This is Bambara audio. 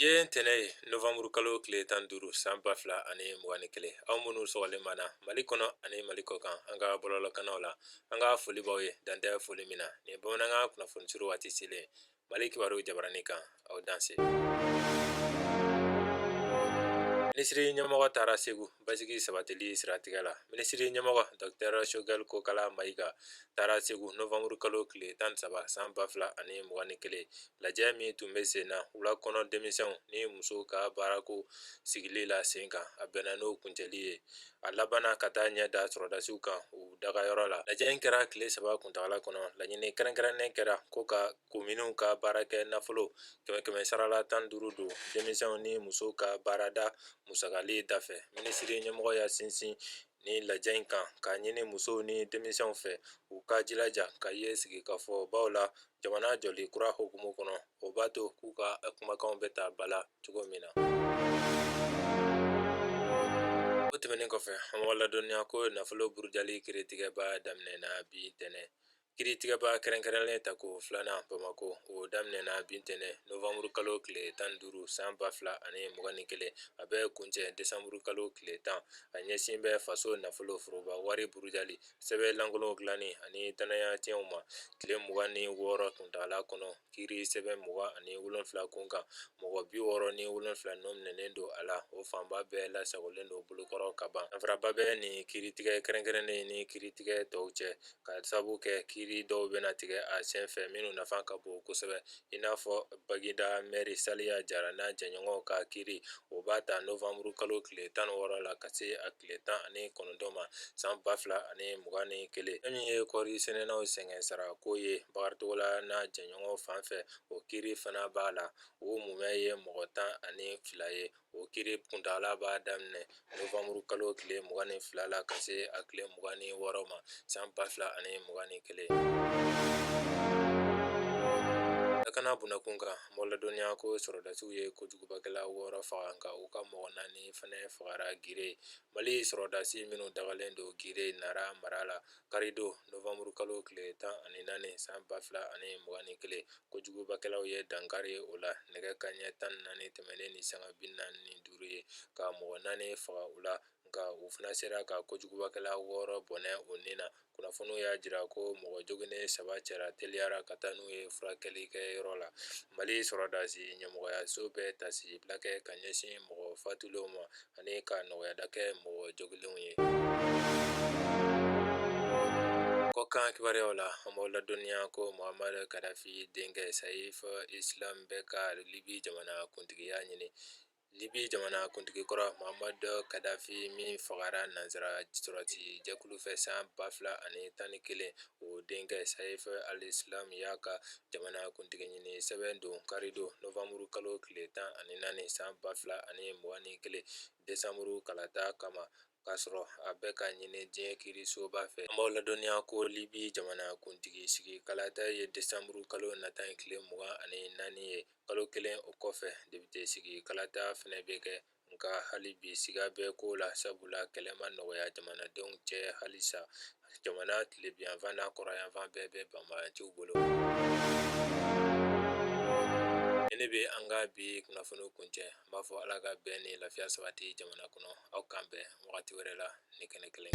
ye ntɛnɛn ye novanburu kalo tile tan duuru san ba fila ani mugan ni kelen aw minnu sɔgɔlen b'an na mali kɔnɔ ani mali kɔ kan an ka bɔlɔlɔkannaw la an ka foli b'aw ye dan tɛ foli min na nin bamanankan kunnafoni surun waati selen mali kibaru jabarani kan aw danse minisiri ɲɛmɔgɔ taara segu basigi sabatili siratigɛ la minisiri ɲɛmɔgɔ dɔtɛrɛ sogɛli kokala mayiga taara segu novanburu kalo tile tan saba san ba fila ani mugan ni kelen lajɛ min tun bɛ sen na wulakɔnɔ denmisɛnw ni musow ka baarako sigili la sen kan a bɛnna n'o kuncɛli ye a labanna ka taa ɲɛ da sɔrɔdasiw kan u dagayɔrɔ la lajɛ in kɛra tile saba kuntagala kɔnɔ laɲini kɛrɛnkɛrɛnnen kɛra ko ka kominiw ka baarakɛ nafolo kɛmɛ kɛmɛ sara la tan duuru don denmisɛnw ni musow ka baarada Musakali dafɛ minisiri ɲɛmɔgɔ y'a sinsin ni lajɛ in kan k'a ɲini musow ni denmisɛnw fɛ u ka jilaja ka ye sigikafɔbaw la jamana jɔli kura hukumu kɔnɔ o b'a to k'u ka kumakanw bɛ ta ba la cogo min na o tɛmɛnen kɔfɛ an b'aw ladɔnniya ko nafolo burujali kiiritigɛba daminɛna bi ntɛnɛn kiiritigɛba kɛrɛnkɛrɛnlen tako filanan bamakɔ o daminɛna bi ntɛnɛn novanburu kalo tile tan duuru san ba fila ani mugan ni kelen a bɛ kuncɛ desanburu kalo tile tan a ɲɛsin bɛ faso nafolo foroba wari burujali sɛbɛn lankolon dilanni ani dannaya tiɲɛw ma tile mugan ni wɔɔrɔ kuntaala kɔnɔ kiiri sɛbɛn mugan ani wolonwula kun kan mɔgɔ bi wɔɔrɔ ni wolonwula nɔ minɛnen don a la o fanba bɛɛ lasagolen don bolokɔrɔ ka ban danfaraba bɛ ni kiiritigɛ kɛrɛnkɛrɛnnen ni kiiritigɛ tɔw cɛ ka sabu kɛ kiiri dɔw bɛna tigɛ a sen fɛ minnu nafa ka bon kosɛbɛ i n'a fɔ bagida mɛri saliya jara n'a jɛɲɔgɔn ka kiiri o b'a ta novanburu kalo tile tan wɔɔrɔ la ka se a tile tan ani kɔnɔntɔn ma san ba fila ani mugan ni kelen fɛn min ye kɔɔri sɛnɛnaw sɛgɛn sara ko ye bakari togola n'a jɛɲɔgɔn fan fɛ o kiiri fana b'a la o mumɛ ye mɔgɔ tan ani fila ye o kiiri kuntaala b'a daminɛ novanburu kalo tile mugan ni fila la ka se a tile mugan ni wɔɔrɔ ma san ba fila ani mugan ni kelen lakana bunda kun kan an b'aw ladɔnniya ko sɔrɔdasiw ye kojugubakɛla wɔɔrɔ faga nka u ka mɔgɔ naani ni fana fagara gire mali sɔrɔdasi minnu dagalen don gire nara mara la karidon novanburu kalo tile tan ani naani san ba fila ani mugan ni kelen kojugubakɛlaw ye dankari o la nɛgɛ kanɲɛ tan ni naani tɛmɛnen ni sanga bi naani ni duuru ye ka mɔgɔ naani faga u la nka u fana sera ka kojugubakɛla wɔɔrɔ bɔnɛ u ni na kunnafoniw y'a jira ko mɔgɔ joginen saba cɛra teliyara ka taa n'u ye furakɛli kɛ yɔrɔ la mali sɔrɔdasi ɲɛmɔgɔyaso bɛ tasi bila kɛ ka ɲɛsin mɔgɔ fatulenw ma ani ka nɔgɔyada kɛ mɔgɔ jogilenw ye kɔkan kibaruyaw la an b'aw ladɔnniya ko mohamadu kadafi denkɛ sayifi islam bɛ ka libi jamana kuntigiya ɲini Libi jamanakuntigi kɔrɔ Mohamadu kadafi min fagara nanzara sɔrɔdasi jɛkulu fɛ san 2011, o denkɛ Saif al-Islam y'a ka jamanakuntigi ɲini sɛbɛn don karidon nowanburu kalo tile 14 san 2021 desanburu kalata kama k'a sɔrɔ a bɛ ka ɲini diɲɛ kirisoba fɛ an b'aw ladɔnniya ko libi jamana kuntigi sigi kalata ye desanburu kalo nata in tile mugan ani naani ye kalo kelen o kɔfɛ debite sigi kalata fɛnɛ bɛ kɛ nka hali bi siga bɛ ko la sabula kɛlɛ ma nɔgɔya jamanadenw cɛ halisa jamana tilebinyanfan n'a kɔrɔnyanfan bɛɛ bɛ banbaanciw bolo ne bɛ an ka bi kunnafoniw kuncɛ n b'a fɔ ala ka bɛn ni lafiya sabati jamana kɔnɔ aw k'an bɛn wagati wɛrɛ la ni kɛnɛ kelen